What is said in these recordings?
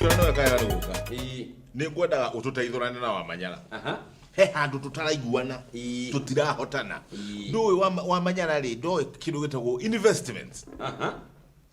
Ĩyo nĩyo ĩka ya rĩu ũka. Ĩĩ. Nĩ ngwendaga ũtũteithũrane na Wamanyara. Aha. He handũ tũtaraiguana, Ĩĩ. tũtirahotana. Ĩĩ. Ndũĩ Wama- Wamanyara rĩ, ndoĩ kĩndũ gĩtagwo investments. Aha.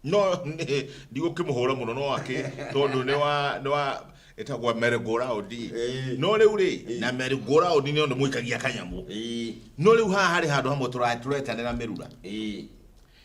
No nĩ- ndigũkĩmũhũra mũno no akĩ tondũ nĩ wa nĩ wa ĩtagwo merry-go-round. Ĩĩ. No rĩu rĩ, na merry-go-round nĩ ũndũ mũikagia kanyamũ. Ĩĩ. No rĩu haha harĩ handũ hamwe tũra- tũretanĩra mĩrura. Ĩĩ.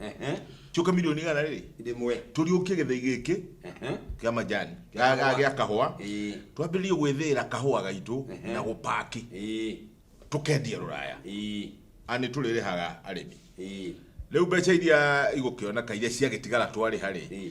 Ehe. cioka milioni igana rĩrĩ Ndĩmwe. tũriũkie gĩthei gĩkĩ Ehe. kĩa majani Kĩa kahũa. gĩa kahũa Ĩĩ. twambĩrĩrie gwĩthĩĩra kahũa gaitũ Ehe. na gũpaki Ĩĩ. tũkendia rũraya Ĩĩ. ani tũrĩrĩhaga arĩmi Ĩĩ. rĩu mbeca iria igũkĩoneka iria ciagĩtigara twarĩha rĩ Ĩĩ.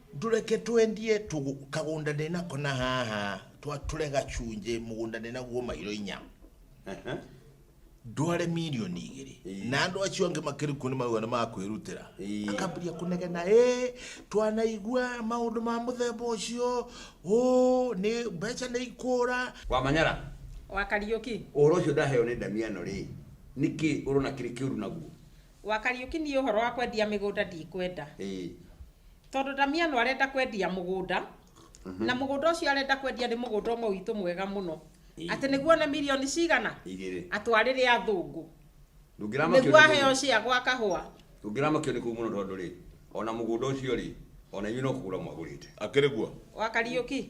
Ndũreke twendie tũgũ, kagũnda ndĩ nako na haha, twatũre gacunjĩ, mũgũnda ndĩ naguo mairo inya. Ehe. ndware mirioni igĩrĩ Ĩĩ. na andũ acio angĩ makĩrikwo nĩ mauga nĩ makwĩrutĩra Ĩĩ. akambĩria kũnegena ĩ twanaigua maũndũ ma mũthemba ũcio ũ nĩ mbeca nĩ ikũra Wa Manyara, wa Kariũki. ũhoro ũcio ndaheo nĩ Damiano rĩ, nĩkĩ ũrona kĩrĩ kĩũru naguo? Wa Kariũki niĩ ũhoro wa kwendia mĩgũnda ndikwenda. Ĩĩ. Tondũ Ndamiano arenda kwendia mũgũnda, na mũgũnda ũcio arenda kwendia nĩ mũgũnda ũmwe witũ mwega mũno. Ĩĩ. Atĩ nĩguo one mirioni cigana? Igĩrĩ. Atwarĩre athũngũ. Ndũngĩramakio nĩ Nĩguo mũndũ. aheo cia gwa kahũa. Ndũngĩramakio nĩ kũu mũno tondũ rĩ, ona mũgũnda ũcio rĩ, ona inyuĩ no kũgũra mwagũrĩte. Akĩrĩ guo. Wa Kariũki,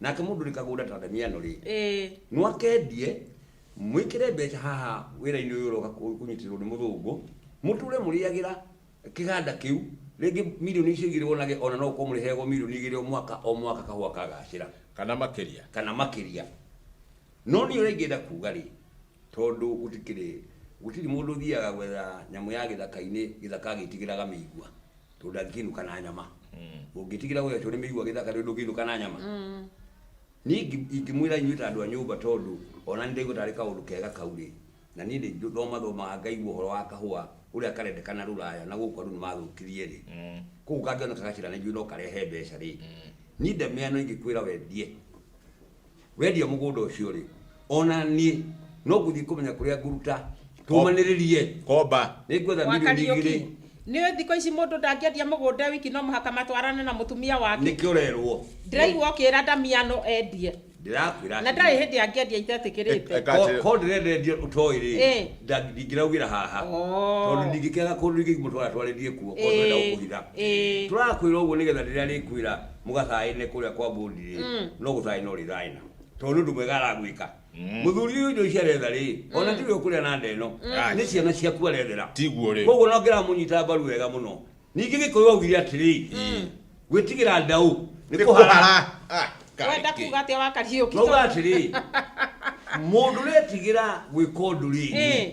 nake mundu ni kagunda ta damiano ri ĩĩ no akendie mwikire mbeca haha wira-ini uyu uroka ku- kunyitirwo ni muthungu muture muriagira kiganda kiu ringi milioni icio igiri wonage ona no ukorwo muriheagwo milioni igiri o mwaka o mwaka kahua kagacira kana makiria kana makiria no ni uri ngienda kuga ri Tondũ gũtikĩrĩ, gũtirĩ mũndũ ũthiaga gwetha nyamũ ya gĩthaka-inĩ, gĩthaka agĩtigĩraga mĩigua, tondũ ndangĩkĩinũka na nyama. Ũngĩtigĩra ũgekĩrwo nĩ mĩigua gĩthaka rĩu ndũngĩinũka na nyama? Niĩ ingi- ingĩmwĩra inyuĩ ta andũ a nyũmba tondũ ona niĩ ndaigua tarĩ kaũndũ kega kau rĩ, na niĩ nĩ thoma thomaga ngaigua ũhoro wa kahũa ũrĩa karendekana rũraya na gũkũ andũ nĩ mathũkirie rĩ, kũu kangĩoneka gacĩra na ithuĩ no karehe mbeca rĩ, niĩ ndamenya no ingĩkwĩra wendie Wendia mũgũnda ũcio rĩ, ona niĩ no ngũthiĩ kũmenya kũrĩa ngũruta tũmanĩrĩrie. Komba. Nĩ ngwetha Gwa milioni Kariũki. igĩrĩ Nĩ ũĩ thikũ ici mũndũ ndangĩendia mũgũnda e wiki no mũhaka matwarane na mũtumia wake. nĩkĩo ũrerwo. Ndĩraigua ũkĩra Damiano endie. Ndĩrakwĩra Na ndarĩ atĩrĩrĩ. hĩndĩ angĩendia itetĩkĩrĩte. Eka Ko- atĩ- Ko ndĩrenda endia ũtoĩ rĩ, Ĩĩ. nda- ndingĩraugĩra haha. Oh. Tondũ ndingĩkĩaga kũndũ ingĩmũtwara twarĩrie kuo, ko ndĩrenda Ĩĩ, gũkũhitha. ĩĩ. Tũrakwĩra ũguo nĩgetha rĩrĩa arĩkwĩra mũgathaĩne kũrĩa kwa mbũndire Mm. no gũthaĩ no rĩthaĩna tondũ nĩ ũndũ mwega aragwĩka Mm. mũthuri ũyũ indo ici aretha rĩ ona tiwe ũkũrĩa na ndeno nĩ ciana ciaku arethera tiguo rĩ koguo no ngĩramunyita mbaru wega mũno ningĩ gĩkũyũ augire atĩrĩ gwĩtigĩra ndaũ nĩ kũhara nĩkũhara Ah, kaĩ wenda kĩ. kuga atĩa wakariũki noga atĩrĩ mũndũ retigĩra gwĩka ũndũ rĩ Eh.